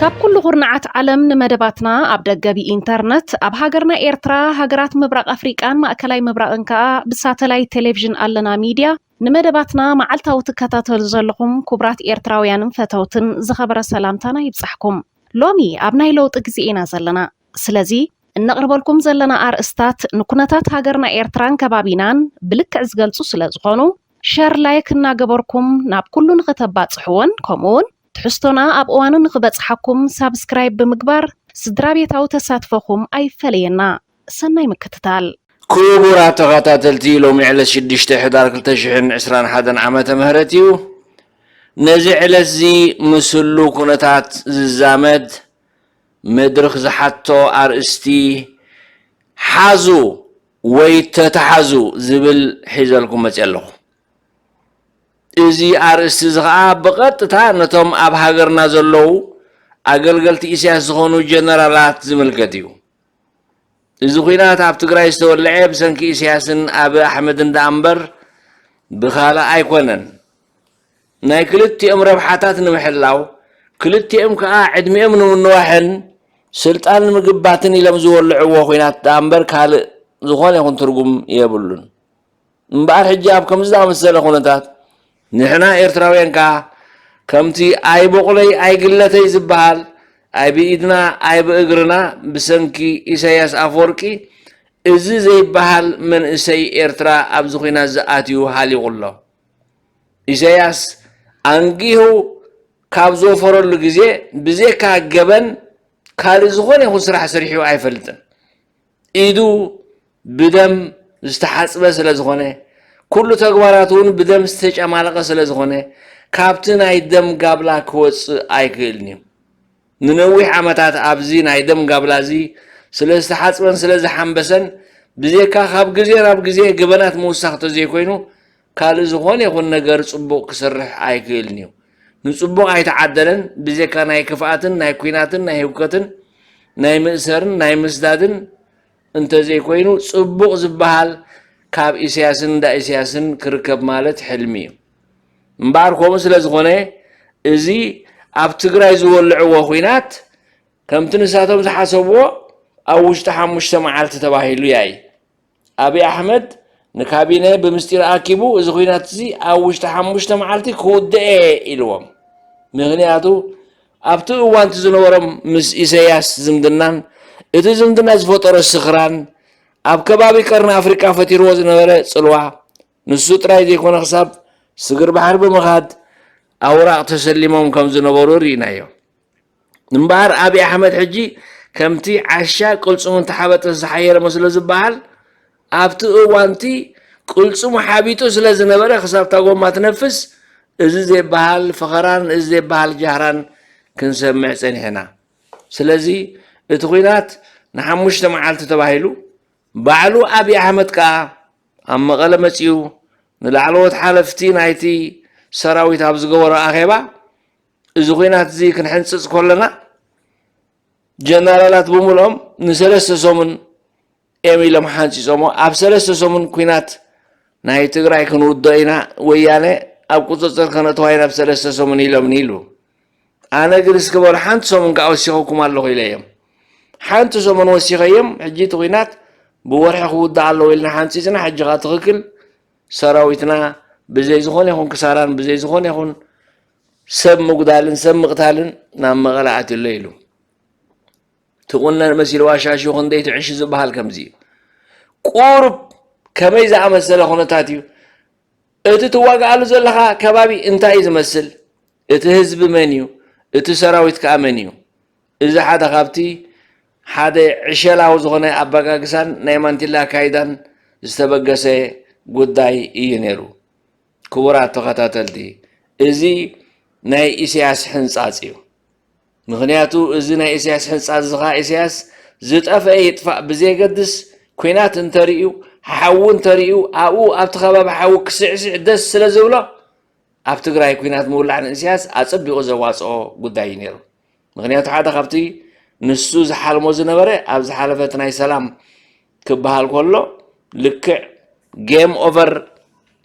ካብ ኩሉ ኩርናዓት ዓለም ንመደባትና ኣብ ደገ ብኢንተርነት ኣብ ሃገርና ኤርትራ ሃገራት ምብራቕ ኣፍሪቃን ማእከላይ ምብራቕን ከኣ ብሳተላይት ቴሌቪዥን ኣለና ሚድያ ንመደባትና መዓልታዊ ትከታተሉ ዘለኹም ኩቡራት ኤርትራውያንን ፈተውትን ዝኸበረ ሰላምታና ይብጻሕኩም። ሎሚ ኣብ ናይ ለውጢ ግዜ ኢና ዘለና። ስለዚ እነቕርበልኩም ዘለና ኣርእስታት ንኩነታት ሃገርና ኤርትራን ከባቢናን ብልክዕ ዝገልጹ ስለዝኾኑ ሸር ላይክ እናገበርኩም ናብ ኩሉ ንኸተባጽሕዎን ከምኡውን ትሕዝቶና ኣብ እዋኑ ንኽበጽሓኩም ሳብስክራይብ ብምግባር ስድራቤታዊ ተሳትፎኹም ኣይፈለየና። ሰናይ ምክትታል። ኩቡራት ተኻታተልቲ ሎሚ ዕለት ሽዱሽተ ሕዳር ክልተ ሽሕን ዕስራን ሓደን ዓመተ ምህረት እዩ ነዚ ዕለትዚ ምስ ህሉው ኩነታት ዝዛመድ መድርኽ ዝሓቶ ኣርእስቲ ሓዙ ወይ ተታሓዙ ዝብል ሒዘልኩም መጺኣ ኣለኹ። እዚ ኣርእስቲ እዚ ከኣ ብቐጥታ ነቶም ኣብ ሃገርና ዘለዉ ኣገልገልቲ ኢሳያስ ዝኾኑ ጀነራላት ዝምልከት እዩ። እዚ ኹናት ኣብ ትግራይ ዝተወልዐ ብሰንኪ ኢሳያስን ኣቢ ኣሕመድን ደኣ እምበር ብኻልእ ኣይኮነን። ናይ ክልቲኦም ረብሓታት ንምሕላው ክልቲኦም ከኣ ዕድሚኦም ንምንዋሕን ስልጣን ንምግባትን ኢሎም ዝወልዕዎ ኹናት ደኣ እምበር ካልእ ዝኾነ ይኹን ትርጉም የብሉን። እምበኣር ሕጂ ኣብ ከምዚ ዝኣመሰለ ኩነታት ንሕና ኤርትራውያን ከኣ ከምቲ ኣይቦቕለይ ኣይግለተይ ዝበሃል ኣይብኢድና ኣይብእግርና ብሰንኪ ኢሳይያስ ኣፈወርቂ እዚ ዘይበሃል መንእሰይ ኤርትራ ኣብዚ ኩናትዚ ኣትዩ ሃሊቑ ኣሎ። ኢሳይያስ ኣንጊሁ ካብ ዝወፈረሉ ግዜ ብዜካ ገበን ካልእ ዝኾነ ይኹን ስራሕ ሰሪሑ ኣይፈልጥን። ኢዱ ብደም ዝተሓጽበ ስለ ዝኾነ፣ ኩሉ ተግባራቱ እውን ብደም ዝተጨማለቐ ስለ ዝኾነ፣ ካብቲ ናይ ደም ጋብላ ክወጽእ ኣይክእልን እዩ። ንነዊሕ ዓመታት ኣብዚ ናይ ደም ጋብላ እዚ ስለ ዝተሓጽበን ስለ ዝሓምበሰን፣ ብዜካ ካብ ግዜ ናብ ግዜ ገበናት ምውሳኽ ተዘይኮይኑ፣ ካልእ ዝኾነ ይኹን ነገር ጽቡቕ ክሰርሕ ኣይክእልን እዩ። ንጽቡቕ ኣይተዓደለን፣ ብዜካ ናይ ክፍኣትን ናይ ኩናትን ናይ ህውከትን ናይ ምእሰርን ናይ ምስዳድን እንተዘይኮይኑ ጽቡቕ ዝበሃል ካብ ኢሰያስን እንዳ ኢሰያስን ክርከብ ማለት ሕልሚ እዩ። እምበኣር ከምኡ ስለ ዝኾነ እዚ ኣብ ትግራይ ዝወልዕዎ ኩናት ከምቲ ንሳቶም ዝሓሰብዎ ኣብ ውሽጢ ሓሙሽተ መዓልቲ ተባሂሉ ያኢ ኣብይ ኣሕመድ ንካቢነ ብምስጢር ኣኪቡ እዚ ኩናት እዚ ኣብ ውሽጢ ሓሙሽተ መዓልቲ ክውድኤ ኢልዎም። ምክንያቱ ኣብቲ እዋንቲ ዝነበሮም ምስ ኢሰያስ ዝምድናን እቲ ዝምድና ዝፈጠሮ ስኽራን ኣብ ከባቢ ቀርኒ ኣፍሪቃ ፈጢርዎ ዝነበረ ጽልዋ ንሱ ጥራይ ዘይኮነ ክሳብ ስግር ባሕሪ ብምኻድ ኣውራቕ ተሰሊሞም ከም ዝነበሩ ርኢናዮ። እምበኣር ኣብይ ኣሕመድ ሕጂ ከምቲ ዓሻ ቅልጽሙ እንተሓበጠ ዝሓየረ መስሎ ዝበሃል፣ ኣብቲ እዋን'ቲ ቅልጽሙ ሓቢጡ ስለ ዝነበረ ክሳብ እታ ጎማ ትነፍስ እዚ ዘይበሃል ፈኸራን እዚ ዘይበሃል ጃህራን ክንሰምዕ ጸኒሕና። ስለዚ እቲ ኵናት ንሓሙሽተ መዓልቲ ተባሂሉ፣ ባዕሉ ኣብይ ኣሕመድ ከኣ ኣብ መቐለ መጺኡ ንላዕለዎት ሓለፍቲ ናይቲ ሰራዊት ኣብ ዝገበሮ ኣኼባ፣ እዚ ኹናት እዚ ክንሕንፅፅ ከለና ጀነራላት ብምልኦም ንሰለስተ ሰሙን እዮም ኢሎም ሓንፂፆሞ ኣብ ሰለስተ ሰሙን ኩናት ናይ ትግራይ ክንውዶ ኢና ወያነ ኣብ ቁፅፅር ከነእተዋ ኢና ብ ሰለስተ ሰሙን ኢሎምኒ ኢሉ ኣነ ግን እስኪ በሉ ሓንቲ ሰሙን ከዓ ወሲኸኩም ኣለኹ ኢለ እዮም ሓንቲ ሰሙን ወሲኸ እዮም ሕጂ እቲ ኩናት ብወርሒ ክውዳእ ኣለዎ ኢልና ሓንፂፅና ሕጂ ከዓ ትኽክል ሰራዊትና ብዘይ ዝኾነ ይኹን ክሳራን ብዘይ ዝኾነ ይኹን ሰብ ምጉዳልን ሰብ ምቕታልን ናብ መቐለ ኣትዩ ኣሎ ኢሉ። ትቑነን መሲልዋ ሻሹ ክንደይ ትዕሽ ዝበሃል ከምዚ እዩ። ቁሩብ ከመይ ዝኣመሰለ ኩነታት እዩ? እቲ ትዋግኣሉ ዘለኻ ከባቢ እንታይ እዩ ዝመስል? እቲ ህዝቢ መን እዩ? እቲ ሰራዊት ከዓ መን እዩ? እዚ ሓደ ካብቲ ሓደ ዕሸላዊ ዝኾነ ኣበጋግሳን ናይ ማንቲላ ኣካይዳን ዝተበገሰ ጉዳይ እዩ ነይሩ። ክቡራት ተኸታተልቲ እዚ ናይ ኢሰያስ ሕንጻጽ እዩ ምክንያቱ እዚ ናይ ኢሰያስ ሕንጻጽ እዚ ከኣ ኢሰያስ ዝጠፈኤ ይጥፋእ ብዘየገድስ ኩናት እንተርእዩ ሓዊ እንተርእዩ ኣብኡ ኣብቲ ከባቢ ሓዊ ክስዕስዕ ደስ ስለ ዝብሎ ኣብ ትግራይ ኩናት ምውላዕ ንእስያስ ኣጸቢቑ ዘዋጽኦ ጉዳይ እዩ ነይሩ ምክንያቱ ሓደ ካብቲ ንሱ ዝሓልሞ ዝነበረ ኣብ ዝሓለፈት ናይ ሰላም ክበሃል ከሎ ልክዕ ጌም ኦቨር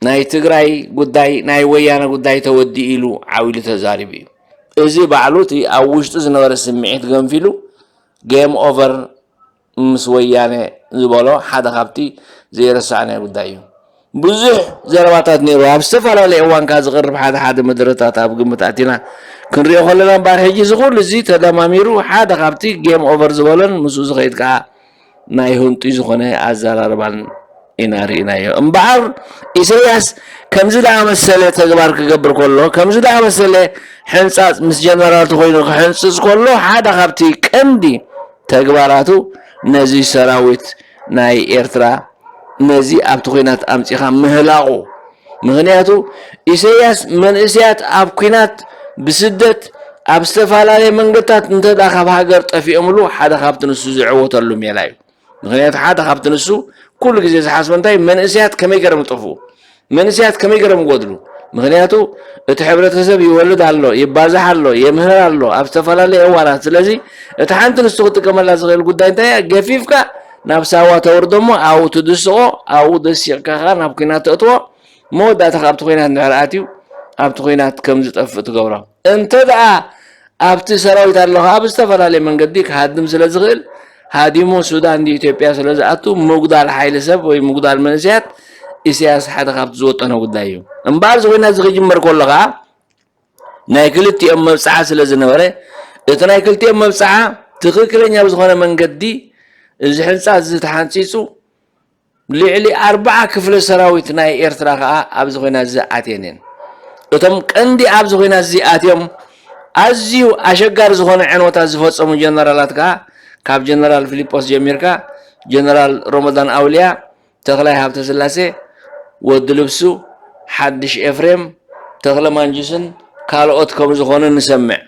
ናይ ትግራይ ጉዳይ ናይ ወያነ ጉዳይ ተወዲኡ ኢሉ ዓው ኢሉ ተዛሪቡ እዩ እዚ ባዕሉ እቲ ኣብ ውሽጡ ዝነበረ ስምዒት ገንፊሉ ጌም ኦቨር ምስ ወያነ ዝበሎ ሓደ ካብቲ ዘይረሳዕናዮ ጉዳይ እዩ። ብዙሕ ዘረባታት ነይሩ። ኣብ ዝተፈላለየ እዋን ካብ ዝቐርብ ሓደ ሓደ መደረታት ኣብ ግምት ኣእቲና ክንሪኦ ከለና እምበኣር ሕጂ እዚ ኩሉ እዚ ተደማሚሩ ሓደ ካብቲ ጌም ኦቨር ዝበሎን ምስኡ ዝኸይድ ከኣ ናይ ህንጡይ ዝኾነ ኣዘራርባን ኢና ርኢናዮ። እምበኣር ኢሰያስ ከምዚ ዝኣመሰለ ተግባር ክገብር ከሎ፣ ከምዚ ዝኣመሰለ ሕንጻጽ ምስ ጀነራልቱ ኮይኑ ክሕንጽጽ ከሎ፣ ሓደ ካብቲ ቀንዲ ተግባራቱ ነዚ ሰራዊት ናይ ኤርትራ ነዚ ኣብቲ ኩናት ኣምጺኻ ምህላቑ ምክንያቱ ኢሰያስ መንእስያት ኣብ ኩናት ብስደት ኣብ ዝተፈላለየ መንገድታት እንተ ካብ ሃገር ጠፊኦምሉ ሓደ ካብቲ ንሱ ዝዕወተሉ ሜላ እዩ። ምክንያቱ ሓደ ካብቲ ንሱ ኩሉ ግዜ ዝሓስቦ እንታይ መንእሰያት ከመይ ገረም ዝጠፍኡ መንእሰያት ከመይ ገረም ይጎድሉ ምክንያቱ እቲ ሕብረተሰብ ይወልድ ኣሎ ይባዛሕ ኣሎ የምህር ኣሎ ኣብ ዝተፈላለየ እዋናት ስለዚ እቲ ሓንቲ ንሱ ክጥቀመላ ዝኽእል ጉዳይ እንታይ እያ ገፊፍካ ናብ ሳዋ ተውርዶ እሞ ኣብኡ ትድስቆ ኣብኡ ደሲቕካ ከ ናብ ኩናት ተእትዎ መወዳእታ ከኣ ኣብቲ ኲናት እንድሕር ኣትዩ ኣብቲ ኲናት ከም ዝጠፍእ ትገብሮ። እንተድኣ ኣብቲ ሰራዊት ኣሎ ከኣ ብዝተፈላለየ መንገዲ ክሃድም ስለ ዝኽእል ሃዲሙ ሱዳን ድዩ ኢትዮጵያ ስለ ዝኣቱ ምጉዳል ሓይሊ ሰብ ወይ ምጉዳል መንእሰያት ኢሳያስ ሓደ ካብቲ ዝወጠኖ ጉዳይ እዩ። እምበኣር እዚ ኲናት እዚ ክጅመር ከሎ ከኣ ናይ ክልቲኦም መብጽዓ ስለ ዝነበረ እቲ ናይ ክልቲኦም መብጽዓ ትኽክለኛ ብዝኾነ መንገዲ እዚ ሕንጻ እዚ ተሓንጺጹ ልዕሊ ኣርባዓ ክፍለ ሰራዊት ናይ ኤርትራ ከኣ ኣብዚ ኹናትዚ ኣትየን እየን። እቶም ቀንዲ ኣብዚ ኹናትዚ ኣትዮም ኣዝዩ ኣሸጋሪ ዝኾነ ዕንወታት ዝፈጸሙ ጀነራላት ከኣ ካብ ጀነራል ፍሊጶስ ጀሚርካ ጀነራል ሮሞዳን ኣውልያ፣ ተኽላይ ሃብተስላሴ፣ ወዲ ልብሱ፣ ሓድሽ ኤፍሬም፣ ተኽለ ማንጁስን ካልኦት ከምዝኾኑ ንሰምዕ።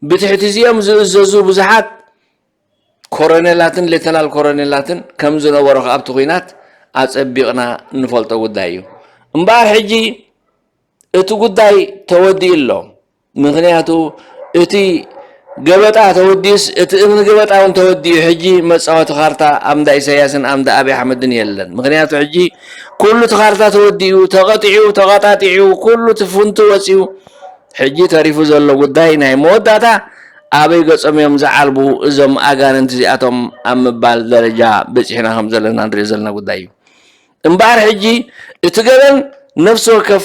ብትሕቲ እዚኦም ዝእዘዙ ብዙሓት ኮረኔላትን ሌተናል ኮረኔላትን ከም ዝነበሩ ከኣ ኣብቲ ኲናት ኣጸቢቕና እንፈልጦ ጉዳይ እዩ። እምበኣር ሕጂ እቲ ጉዳይ ተወዲኡ ኣሎ። ምኽንያቱ እቲ ገበጣ ተወዲኡስ እቲ እምኒ ገበጣ እውን ተወዲኡ ሕጂ መጻወቲ ካርታ ኣብ እንዳ ኢሳያስን ኣብ እንዳ ኣብይ ኣሕመድን የለን። ምኽንያቱ ሕጂ ኩሉ እቲ ካርታ ተወዲኡ ተቐጢዑ ተቐጣጢዑ ኩሉ እቲ ፍንቱ ወጺኡ ሕጂ ተሪፉ ዘሎ ጉዳይ ናይ መወዳእታ ኣበይ ገጾም እዮም ዝዓልቡ እዞም ኣጋንንቲ እዚኣቶም ኣብ ምባል ደረጃ በጺሕና ከም ዘለና ንሪኦ ዘለና ጉዳይ እዩ። እምበኣር ሕጂ እቲ ገበን ነፍሲ ወከፍ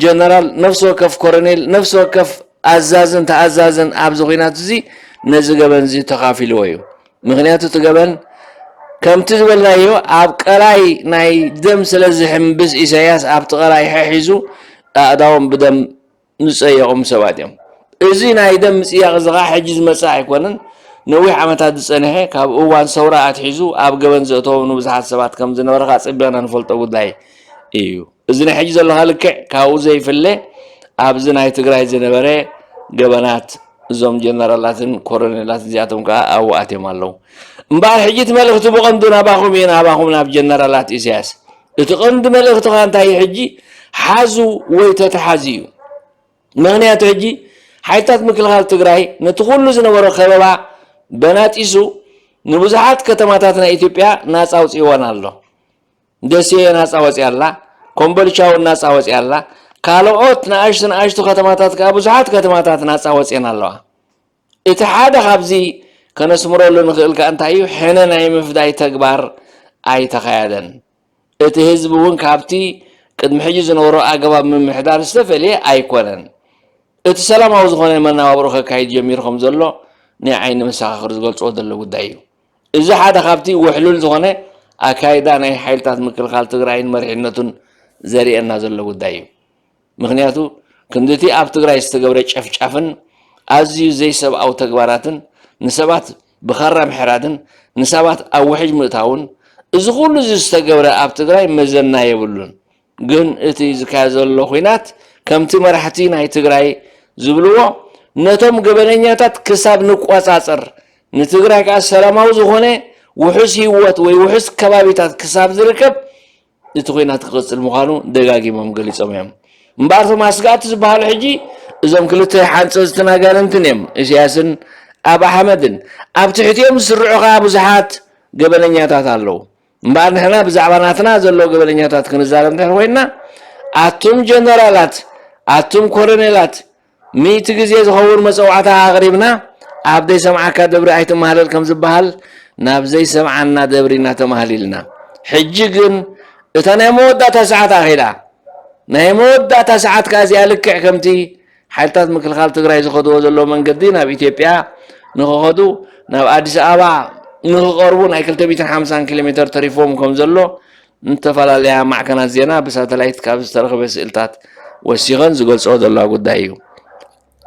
ጀነራል፣ ነፍሲ ወከፍ ኮረኔል፣ ነፍሲ ወከፍ ኣዛዝን ተኣዛዝን ኣብዚ ኩናት እዚ ነዚ ገበን እዚ ተኻፊልዎ እዩ። ምኽንያቱ እቲ ገበን ከምቲ ዝበልናዮ ኣብ ቀላይ ናይ ደም ስለ ዝሕምብስ ኢሳያስ ኣብቲ ቀላይ ሐሒዙ ኣእዳዎም ብደም ዝጸየቑም ሰባት እዮም። እዚ ናይ ደም ምጽያቕ እዚ ኸኣ ሕጂ ዝመጽእ ኣይኮነን፣ ነዊሕ ዓመታት ዝጸንሐ ካብ እዋን ሰውራ ኣትሒዙ ኣብ ገበን ዘእተዎም ንብዙሓት ሰባት ከም ዝነበረ ኸኣ ጸቢቕና ንፈልጦ ጉዳይ እዩ። እዚ ናይ ሕጂ ዘለካ ልክዕ ካብኡ ዘይፍለ ኣብዚ ናይ ትግራይ ዝነበረ ገበናት እዞም ጀነራላትን ኮረኔላት እዚኣቶም ከዓ ኣብኡ ኣትዮም ኣለዉ እምበኣር ሕጂ እቲ መልእኽቲ ብቐንዱ ናባኹም እየ ናባኹም ናብ ጀነራላት ኢሳያስ እቲ ቀንዲ መልእኽትኻ እንታይ እዩ ሕጂ ሓዙ ወይ ተተሓዙ እዩ ምክንያቱ ሕጂ ሓይልታት ምክልኻል ትግራይ ነቲ ኩሉ ዝነበሮ ከበባ በናጢሱ ንብዙሓት ከተማታት ናይ ኢትዮጵያ ናፃ ኣውፅእወን ኣሎ ደሴ ናፃ ወፂኣ ኣላ፣ ኮምቦልቻ እውን ናፃ ወፂኣ ኣላ፣ ካልኦት ንኣሽቱ ንኣሽቱ ከተማታት ከዓ ብዙሓት ከተማታት ናፃ ወፂኤን ኣለዋ። እቲ ሓደ ካብዚ ከነስምረሉ ንኽእል ከዓ እንታይ እዩ ሕነ ናይ ምፍዳይ ተግባር ኣይተኻየደን። እቲ ህዝቢ እውን ካብቲ ቅድሚ ሕጂ ዝነበሮ ኣገባብ ምምሕዳር ዝተፈልየ ኣይኮነን። እቲ ሰላማዊ ዝኾነ መነባብሮ ከካይድ ጀሚሩ ከም ዘሎ ናይ ዓይኒ መሰኻኽር ዝገልፅዎ ዘለዉ ጉዳይ እዩ። እዚ ሓደ ካብቲ ውሕሉል ዝኾነ ኣካይዳ ናይ ሓይልታት ምክልኻል ትግራይን መሪሕነቱን ዘሪኤና ዘሎ ጉዳይ እዩ። ምኽንያቱ ክንዲ እቲ ኣብ ትግራይ ዝተገብረ ጨፍጫፍን ኣዝዩ ዘይሰብኣዊ ተግባራትን ንሰባት ብኻራ ምሕራድን ንሳባት ኣብ ውሕጅ ምእታውን እዚ ኩሉ እዚ ዝተገብረ ኣብ ትግራይ መዘና የብሉን። ግን እቲ ዝካየድ ዘሎ ኹናት ከምቲ መራሕቲ ናይ ትግራይ ዝብልዎ ነቶም ገበነኛታት ክሳብ ንቆፃፀር ንትግራይ ከዓ ሰላማዊ ዝኾነ ውሑስ ህይወት ወይ ውሑስ ከባቢታት ክሳብ ዝርከብ እቲ ኹናት ክቕፅል ምዃኑ ደጋጊሞም ገሊፆም እዮም እምበኣር እቶም ኣስጋእቲ ዝበሃሉ ሕጂ እዞም ክልተ ሓንፀፅትን ኣጋንንትን እዮም እሲያስን ኣብ ኣሕመድን ኣብ ትሕቲኦም ዝስርዑ ከዓ ብዙሓት ገበነኛታት ኣለዉ እምበኣር ንሕና ብዛዕባ ናትና ዘሎ ገበነኛታት ክንዛረብ እንድሕር ኮይንና ኣቱም ጀነራላት ኣቱም ኮረኔላት ሚእቲ ግዜ ዝኸውን መፀዋዕታ ኣቕሪብና ኣብ ዘይሰምዓካ ደብሪ ኣይትመሃለል ከም ዝበሃል ናብ ዘይሰምዓና ደብሪ ኢና ተማህሊልና ሕጂ ግን እታ ናይ መወዳእታ ሰዓት ኣኺላ ናይ መወዳእታ ሰዓት ከኣ እዚኣ ልክዕ ከምቲ ሓይልታት ምክልኻል ትግራይ ዝኸድዎ ዘለዉ መንገዲ ናብ ኢትዮጵያ ንክኸዱ ናብ ኣዲስ ኣበባ ንክቐርቡ ናይ 250 ኪሎ ሜተር ተሪፎም ከም ዘሎ ዝተፈላለያ ማዕከናት ዜና ብሳተላይት ካብ ዝተረኽበ ስእልታት ወሲኸን ዝገልጾ ዘለዋ ጉዳይ እዩ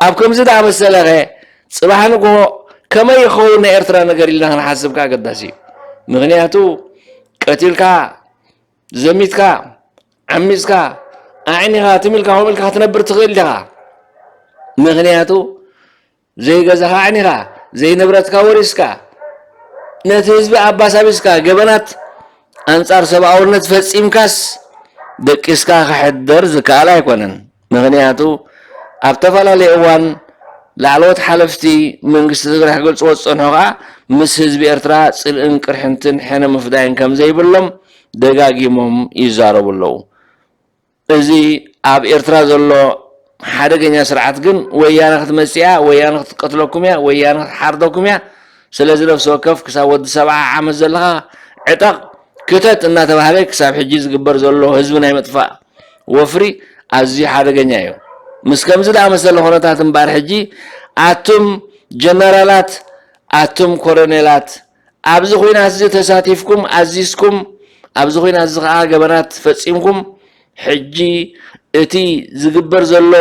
ኣብ ከምዚ ዳመሰለኸ ፅባሕ ንግሆ ከመይ ይኸውን ናይ ኤርትራ ነገር ኢልና ክንሓስብ ከዓ ኣገዳሲ እዩ ምክንያቱ ቀቲልካ ዘሚትካ ዓሚጽካ ኣዕኒኻ ትም ኢልካ ከምኡ ኢልካ ክትነብር ትኽእል ዲኻ ምክንያቱ ዘይገዛኻ ኣዕኒኻ ዘይንብረትካ ወሪስካ ነቲ ህዝቢ ኣባሳቢስካ ገበናት ኣንጻር ሰብኣውነት ፈጺምካስ ደቂስካ ክሕደር ዝከኣል ኣይኮነን። ምኽንያቱ ኣብ ተፈላለየ እዋን ላዕለዎት ሓለፍቲ መንግስቲ ትግራይ ክገልፅዎ ዝፀንሑ ከዓ ምስ ህዝቢ ኤርትራ ፅልእን ቅርሕንትን ሕነ ምፍዳይን ከምዘይብሎም ደጋጊሞም ይዛረቡ ኣለው። እዚ ኣብ ኤርትራ ዘሎ ሓደገኛ ስርዓት ግን ወያነ ክትመፅእ እያ፣ ወያነ ክትቀትለኩም እያ፣ ወያነ ክትሓርደኩም እያ፣ ስለዚ ነፍሲ ወከፍ ክሳብ ወዲ ሰብዓ ዓመት ዘለኻ ዕጠቕ ክተት እናተባህለ ክሳብ ሕጂ ዝግበር ዘሎ ህዝቢ ናይ ምጥፋእ ወፍሪ ኣዝዩ ሓደገኛ እዩ። ምስ ከምዚ ዝኣመሰለ ኩነታት እምበኣር ሕጂ ኣቱም ጀነራላት ኣቱም ኮሎኔላት ኣብዚ ኹናትዚ ተሳቲፍኩም ኣዚዝኩም ኣብዚ ኹናትዚ ከኣ ገበናት ፈጺምኩም ሕጂ እቲ ዝግበር ዘሎ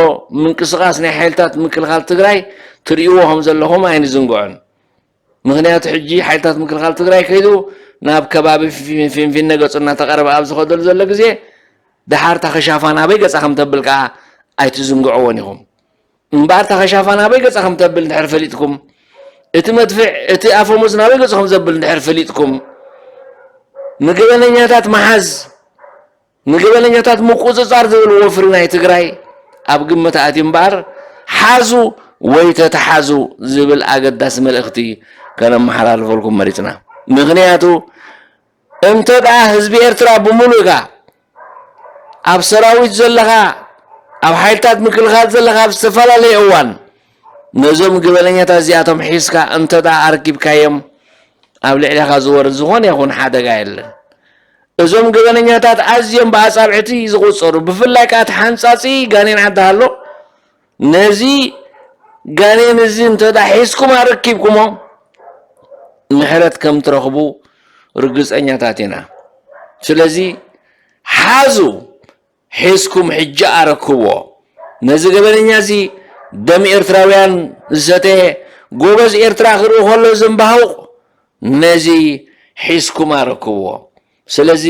ምንቅስቓስ ናይ ሓይልታት ምክልኻል ትግራይ ትርእይዎ ከም ዘለኹም ኣይንዝንግዖን። ምኽንያቱ ሕጂ ሓይልታት ምክልኻል ትግራይ ከይዱ ናብ ከባቢ ፊንፊነ ገጹ እናተቐረበ ኣብ ዝኸደሉ ዘሎ ግዜ ደሓር እታ ከሻፋ ናበይ ገጻ ከም ተብል ከኣ ኣይትዝንግዕዎን ኢኹም እምበኣር እታ ከሻፋ ናበይ ገጻ ከም ተብል እንድሕር ፈሊጥኩም እቲ መድፍዕ እቲ ኣፈሙዝ ናበይ ገጹ ከም ዘብል እንድሕር ፈሊጥኩም ንገበነኛታት መሓዝ ንገበነኛታት ምቁፅፃር ዝብል ወፍሪ ናይ ትግራይ ኣብ ግምት ኣትዩ እምበኣር ሓዙ ወይ ተተሓዙ ዝብል ኣገዳሲ መልእኽቲ ከነመሓላልፈልኩም መሪፅና። ምኽንያቱ እንተድኣ ህዝቢ ኤርትራ ብምሉእካ ኣብ ሰራዊት ዘለኻ ኣብ ሓይልታት ምክልኻል ዘለኻ ኣብ ዝተፈላለየ እዋን ነዞም ገበነኛታት እዚኣቶም ሒዝካ እንተ ኣርኪብካዮም ኣብ ልዕሌኻ ዝወርድ ዝኾነ ይኹን ሓደጋ የለን። እዞም ገበነኛታት ኣዝዮም ብኣጻብዕቲ ዝቑጸሩ ብፍላይ ከዓ እቲ ሓንጻጺ ጋኔን ዓዲ ሃሎ ነዚ ጋኔን እዚ እንተ ሒዝኩም ኣረኪብኩሞ ምሕረት ከም ትረኽቡ ርግጸኛታት ኢና። ስለዚ ሓዙ ሒዝኩም ሕጂ ኣረክብዎ ነዚ ገበነኛ እዚ ደም ኤርትራውያን ዝሰተየ ጎበዝ ኤርትራ ክርኢ ከሎ ዘምባሁቅ ነዚ ሒዝኩም ኣረክብዎ ስለዚ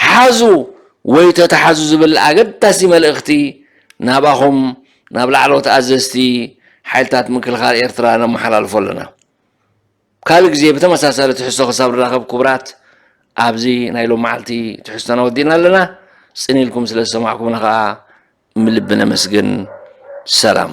ሓዙ ወይ ተታሓዙ ዝብል ኣገዳሲ መልእክቲ ናባኹም ናብ ላዕለዎት ኣዘዝቲ ሓይልታት ምክልኻል ኤርትራ ነመሓላልፎ ኣለና። ካልእ ግዜ ብተመሳሳሊ ትሕዝቶ ክሳብ ንራኸብ ክቡራት ኣብዚ ናይ ሎም መዓልቲ ትሕዝቶና ወዲእና ኣለና። ጽን ኢልኩም ስለ ዝሰማዕኩምና ከኣ ምልቢ ነመስግን። ሰላም።